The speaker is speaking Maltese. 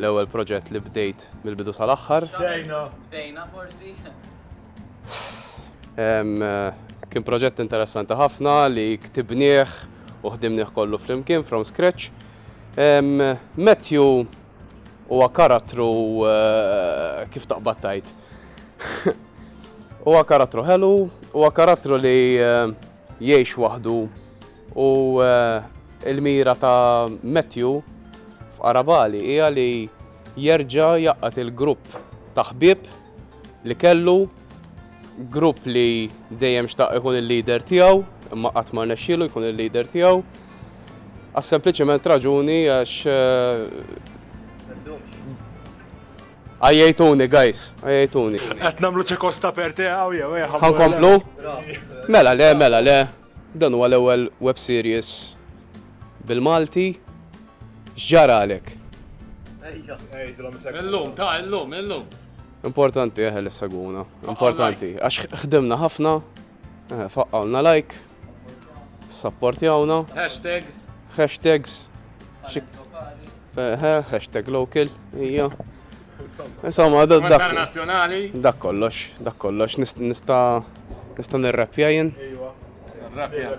L-ewwel proġett li bdejt mill-bidu sal-aħħar. Bdejna. Bdejna forsi. Kien proġett interessanti ħafna li ktibnieh u ħdimnieh kollu flimkien from scratch. Matthew huwa karattru eh, kif taqbad tajt. Huwa karattru ħelu, huwa karattru li eh, Jgħix waħdu u l-mira ta' Matthew f'Qarabali hija li jerġa' jgħaqqad il-grupp ta' ħbieb li kellu, grupp li dejjem xtaq ikun il-leader tiegħu imma qatt ma rnexxielu jkun il-leader tiegħu għas-sempliċiment raġuni għax Għajjejtuni, guys, għajjejtuni. Qed nagħmlu ċekos ta' perte hawn jew eh, ħa nkomplu? Mela le, mela le. Dan huwa l-ewwel web series bil-Malti. X'ġara għalek? Illum, ta' illum, illum. Importanti eħe eh, l-saguna. Importanti. Għax ħdimna ħafna. Eh, faqqawna like. Sapportjawna. Hashtag. Hashtags. Hashtag local. Ija. Insomma, dak. Internazzjonali. Dak kollox, dak kollox. Nista' nista' nirrapja jien. Ejwa. Nirrapja.